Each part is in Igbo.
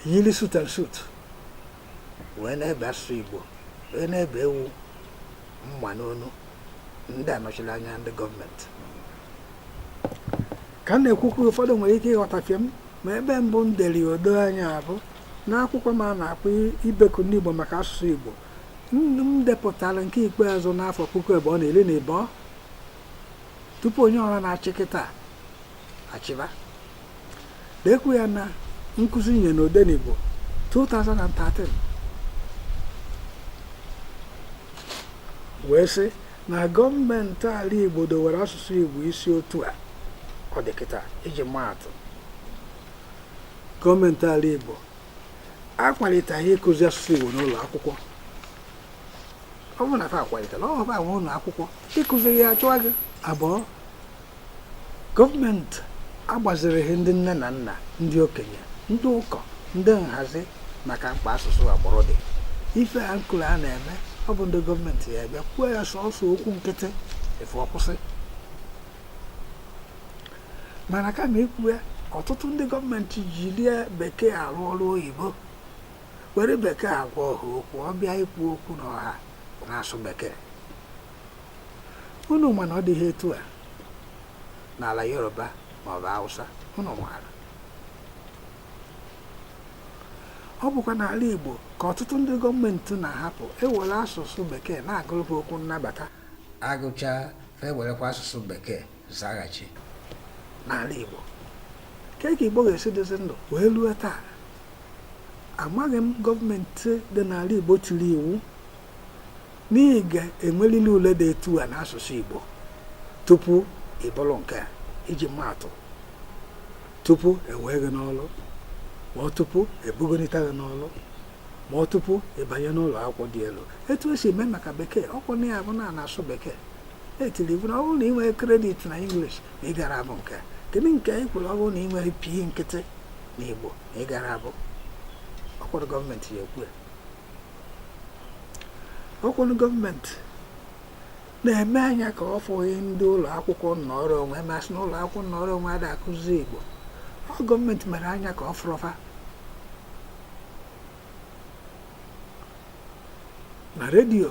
yiri suit and suit wee na-ebe asụsụ Igbo wee na-ebe ewu mma n'onu ndị a nọchiri anya ndị gọọmenti ka m na-ekwukwu ụfọdụ nwere ike ịghọtafie m ma ebe mbụ m dere o doo anya bụ n'akwụkwọ m a na-akpọ ibeku ndị Igbo maka asụsụ Igbo m depụtara nke ikpeazụ n'afọ puku abụọ na iri na ịbụọ tupu onye ọha na-achị kịta achịba dekwu ya na nkụzi nye na Odenigbo 2013 wee sị na gọọmenti ala igbo dowere asụsụ igbo isi otu a ọ dị kịta iji maatụ gọọmenti ala igbo akwaliteghị ịkụzi asụsụ igbo n'ụlọ akwụkwọ ọ bụrụ na fa akwalitela ọ bụ ụlọ akwụkwọ ị kụziri ya a chụọ gị abụọ gọọmenti agbazireghị ndị nne na nna ndị okenye ndị ụkọ ndị nhazi maka mkpa asụsụ agbụrụ dị ife a m kwuru a na-eme ọ bụ ndị gọọmenti ya bịa kwuo ya sọsọ okwu nkịtị efu ọ kwụsị mana kama ikwu ya ọtụtụ ndị gọọmenti jiri bekee arụ ọrụ oyibo were bekee agwa ọha okwu ọ bịa ikwu okwu n'ọha na-asụ bekee unu ma na ọ dịghị etu a n'ala yoruba maọbụ hausa unu maara ọ bụkwa n'ala igbo ka ọtụtụ ndị gọọmenti na-ahapụ e were asụsụ bekee na-agụrụ ha okwu nnabata a gụcha ha e werekwa asụsụ bekee zaghachi n'ala Igbo kee ka Igbo ga-esi dịzi ndụ wee ruo taa amaghị m gọọmenti dị n'ala Igbo tiri iwu na ị ga-enwerịrị ule dị etu a n'asụsụ Igbo tupu ị bụrụ nke a iji maatụ tupu e wee gị n'ọrụ ma ọ tupu e bugonita gị n'ọrụ ma ọ tupu ị banye n'ụlọ akwụkwọ dị elu etu e si eme maka bekee ọ kwa na ya bụ na n'asụsụ bekee e tiri iwu na ọ bụrụ na ị nwerọ credit na English na ị gara abụ nke kedu nke anyị kwuru ọ bụrụ na ị nwerọ P nkịtị na Igbo na ị gara abụ ọkwụrụ gọọmenti ya ekwu ọkwụrụ gọọmenti na-eme anya ka ọ fụghị ndị ụlọ akwụkwọ nnọrọ onwe ma sị na ụlọ akwụkwọ nnọrọ onwe ada akụzi Igbo ọ gọọmenti mere anya ka ọ fụrọ fa na redio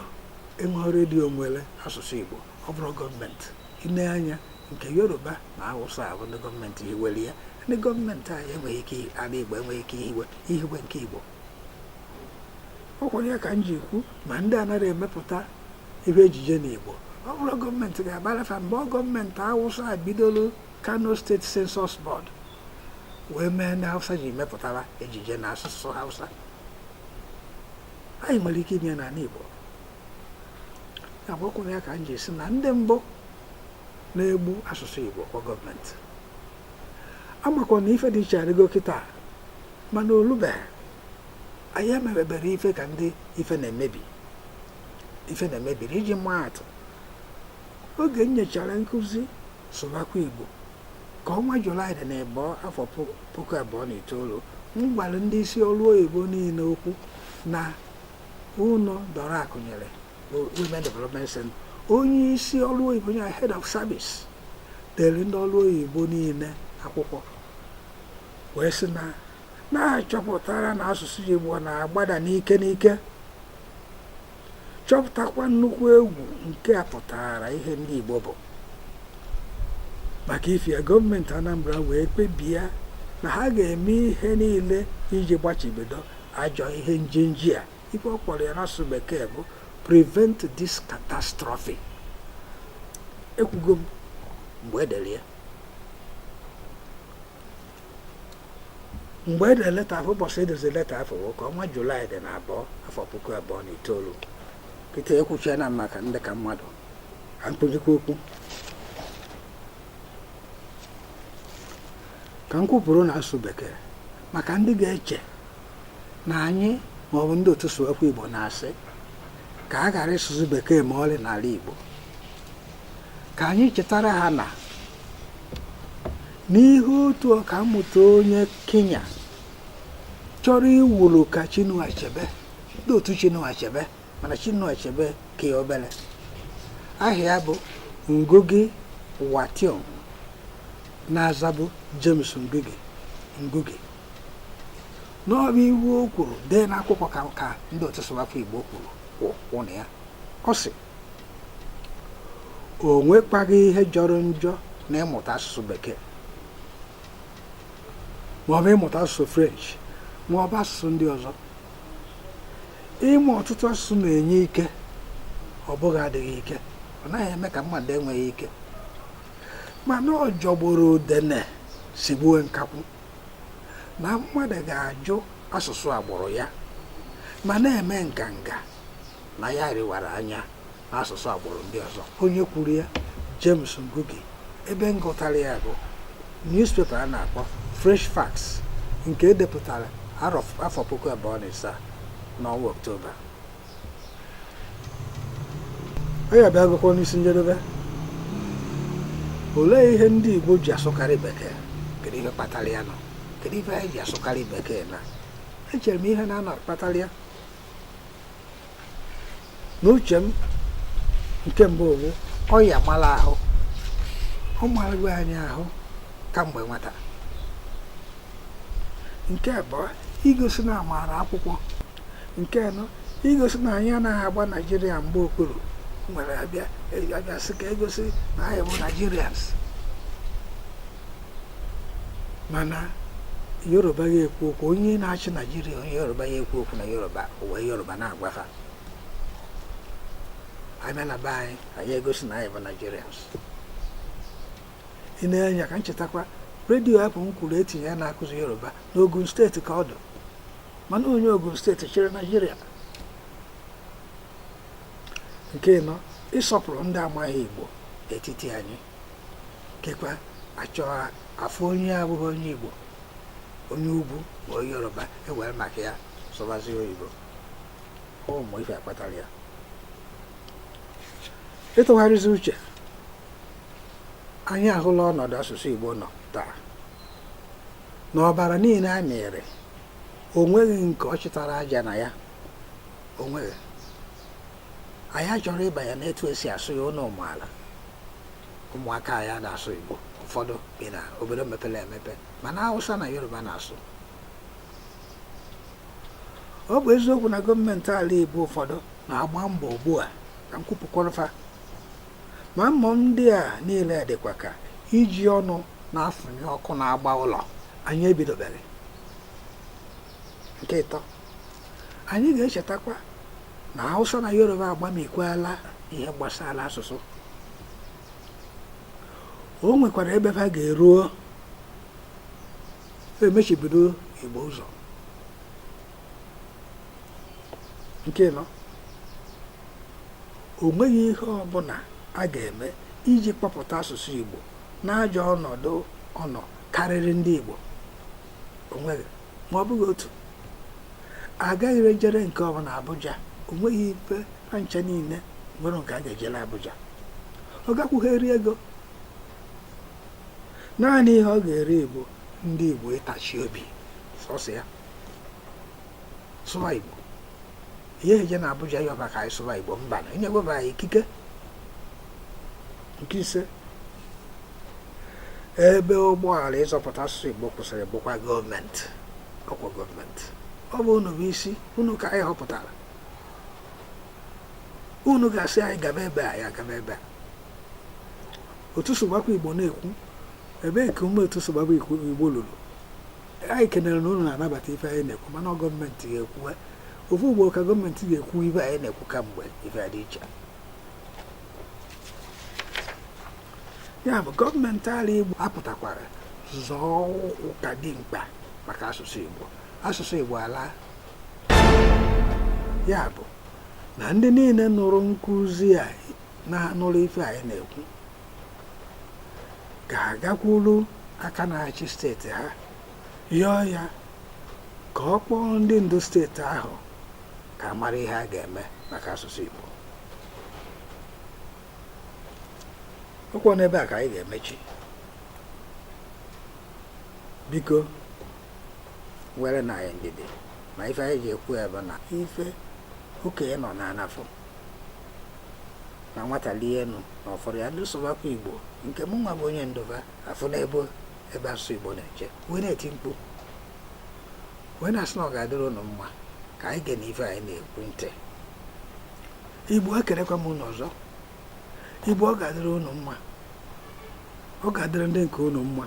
enweghị redio nwere asụsụ Igbo ọ bụrọ gọọmenti i nee anya nke Yoruba na Hausa bụ ndị gọọmenti hiwere ya ndị gọọmenti anyị enweghị ike ala Igbo enweghị ike ihiwe ihiwe nke Igbo ọ kwara ya ka m ji ekwu ma ndị anaghị emepụta ihe ejije na Igbo ọ bụrọ gọọmenti ga-agbara fa mbọ gọọmenti Hausa bidoro Kano State Censors Board wee mee ndị hausa ji mepụtara ejije na asụsụ hausa anyị nwere ike ime ya n'ala igbo agbakwụrụ ya ka m ji si na ndị mbụ na-egbu asụsụ igbo kwa gọọmenti amakwa na ife dị iche adịgo kịta mana o lubeghị anyị emebebere ife ka ndị ife na-emebiri iji maa atụ oge m nyechara nkụzi sụbakwa igbo ka ọnwa julaị dị na ịbọ afọ puku abụọ na itoolu m gwara ndị isi ọrụ oyibo niile okwu na ụlọ dora akunyili women development center onye isi ọrụ oyibo ya head of service dere ndị ọrụ oyibo niile akwụkwọ wee sị na na a chọpụtara na asụsụ igbo na-agbada n'ike n'ike chọpụtakwa nnukwu egwu nke a pụtara ihe ndị Igbo bụ maka ifi ya gọọmenti Anambra wee kpebie na ha ga-eme ihe niile iji gbachibido ajọ ihe njenji a ife ọ kpọrọ ya n'asụsụ bekee bụ prevent this catastrophe ekwugo m mgbe e dere ya mgbe e dere leta afụ ụbọchị e dere leta afụ bụ ka ọnwa julaị dị na abụọ afọ puku abụọ na itoolu kịta ekwuchie na maka ndị ka mmadụ ha mkpụjikwa okwu ka m kwupụrụ na asụsụ bekee maka ndị ga-eche na anyị ma ọ bụ ndị otu sụwakwa igbo na-asị ka a ghara ịsụzi bekee ma ọlị n'ala igbo ka anyị chetara ha na n'ihe otu ọka mmụta onye Kenya chọrọ iwuru ka Chinua Achebe ndị otu Chinua Achebe mana Chinua Achebe ka ya obere aha ya bụ Ngugi wa Thiong'o na-azabu James Ngugi na ọ bụ ihe o kwuru dee n'akwụkwọ ka ka ndị otu sụwakwa Igbo kwuru kwụ na ya ọ sị o nwekwaghị ihe jọrọ njọ na ịmụta asụsụ bekee maọbụ ịmụta asụsụ french maọbụ asụsụ ndị ọzọ ịmụ ọtụtụ asụsụ na-enye ike ọ bụghị adịghị ike ọ naghị eme ka mmadụ enweghị ike mana ọ jọgburu udene sigbuo nkakwụ na mmadụ ga-ajụ asụsụ agbụrụ ya ma na-eme nganga na ya riwara anya n'asụsụ agbụrụ ndị ọzọ onye kwuru ya James Ngugi ebe m gụtara ya bụ newspaper a na-akpọ Fresh Facts nke edepụtara afọ puku abụọ na ịsaa n'ọnwa Ọktoba onye abịa agụkwọ n'isi njedebe olee ihe ndị Igbo ji asụkarị bekee kedu ihe kpatara ya nọ kedu ife anyị ji asụkarị bekee na echere m ihe na-anọ kpatara ya n'uche m nke mbụ bụ ọya mara ahụ ọ marago anyị ahụ kamgbe nwata nke abụọ igosi na amaara akwụkwọ nke anọ igosi na anyị anaghị agba naijiria mgba okpuru nwere abịa sị ka egosi na anyị bụ naijirians mana yoruba ya ekwu okwu onye na-achị naijiria onye yoruba ya ekwu okwu na yoruba o were yoruba na-agwa ha abịa na be anyị anyị egosi na anyị bụ naijirians ị na-enye ka m chetakwa redio afụ m kwuru etinye ya na-akụzi yoruba n'ogun steeti ka ọ dụ mana onye ogun steeti chịrị naijiria nke ịnọ ịsọpụrụ ndị amaghị igbo etiti anyị kekwa achọ afụ onye abụghị onye Igbo onye ugwu ma onye Yoruba ewere maka ya sụbazi oyibo ụmụ ife a kpatara ya ịtụgharịzi uche anyị ahụla ọnọdụ asụsụ Igbo nọ taa na ọbara niile a mịrị o nweghị nke ọ chịtara aja na ya o nweghị anyị achọrọ ịbanye n'etu esi asụ ya n'ụlọ ụmụala ụmụaka anyị ada asụ Igbo ụfọdụ bi na obodo mepere emepe mana Hausa na Yoruba na-asụ ọ bụ eziokwu na gọọmenti ala Igbo ụfọdụ na-agba mbọ ugbu a ka m kwupụkwara fa ma mbọ ndị a niile dịkwa ka iji ọnụ na-afụnyụ ọkụ na-agba ụlọ anyị ebidobere nke ịtọ anyị ga-echetakwa na Hausa na Yoruba agbamikwala ihe gbasara asụsụ o nwekwara ebe ha ga-eruo emechibido Igbo ụzọ nke ịnọ o nweghị ihe ọbụla a ga-eme iji kpọpụta asụsụ Igbo n'ajọ ọnọdụ ọ nọ karịrị ndị Igbo onweghị ma ọ bụghị otu agaghị ejere nke ọbụla Abuja o nweghị ife a ncha niile nwere nke a ga-ejere Abuja ọ gakwughị eri ego naanị ihe ọ ga-eri bụ ndị Igbo ịtachi obi sọsọ ya sụwa Igbo ihe eje na Abuja yọba ka anyị sụwa Igbo mba na enyego va anyị ikike nke ise ebe ụgbọala ịzọpụta asụsụ Igbo kwụsịrị bụkwa gọọmenti ọkwa gọọmenti ọ bụ unu bụ isi unu ka anyị họpụtara unu ga-asị anyị gaba ebe a ya gaba ebe a otu sụbakwa Igbo na-ekwu ebee ka ume otu sụbakwa Igbo lulu anyị kenere na unu na-anabata ife anyị na-ekwu mana gọọmenti ga-ekwu ofu ugbo ka gọọmenti ga-ekwu ife anyị na-ekwu kamgbe ife dị iche ya bụ gọọmenti ala Igbo apụtakwara zọọ ụkwụ ka ọ dị mkpa maka asụsụ Igbo asụsụ Igbo alaa ya bụ na ndị niile nụrụ nkuzi a na nụrụ ife anyị na-ekwu ga-agakwuru aka na-achị steeti ha yọọ ya ka ọ kpọọ ndị ndu steeti ahụ ka a mara ihe a ga-eme maka asụsụ Igbo ọkwa n'ebe a ka anyị ga-emechi biko nwerenụ anyị ndidi ma ife anyị ji ekwu ya bụ na ife okenye nọ n'ana fụ na nwata lie enu na ọ fụrọ ya ndị sụbakwa igbo nke mụ nwa bụ onye ndu va afụ n'ebe ebe asụsụ igbo na-eche wee na-eti mkpu wee na-asị na ọ ga-adịrị ụnụ mma ka anyị gee n'ife anyị na-ekwu ntị igbo ekelekwa m ụnụ ọzọ igbo ọ ga-adịrị ụnụ mma ọ ga-adịrị ndị nke ụnụ mma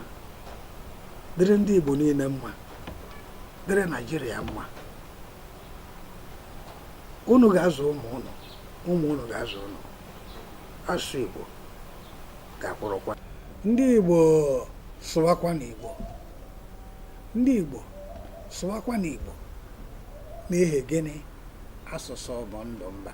dịrị ndị igbo niile mma dịrị naijiria mma ụnụ ga-azụ ụmụ ụnụ ụmụ ụnụ ga-azụ ụnụ asụsụ igbo ga-akwụrụkwa ndị igbo sụwakwanụ igbo ndị Igbo sụwakwanụ Igbo n'ihi gịnị asụsụ bụ ndụ mba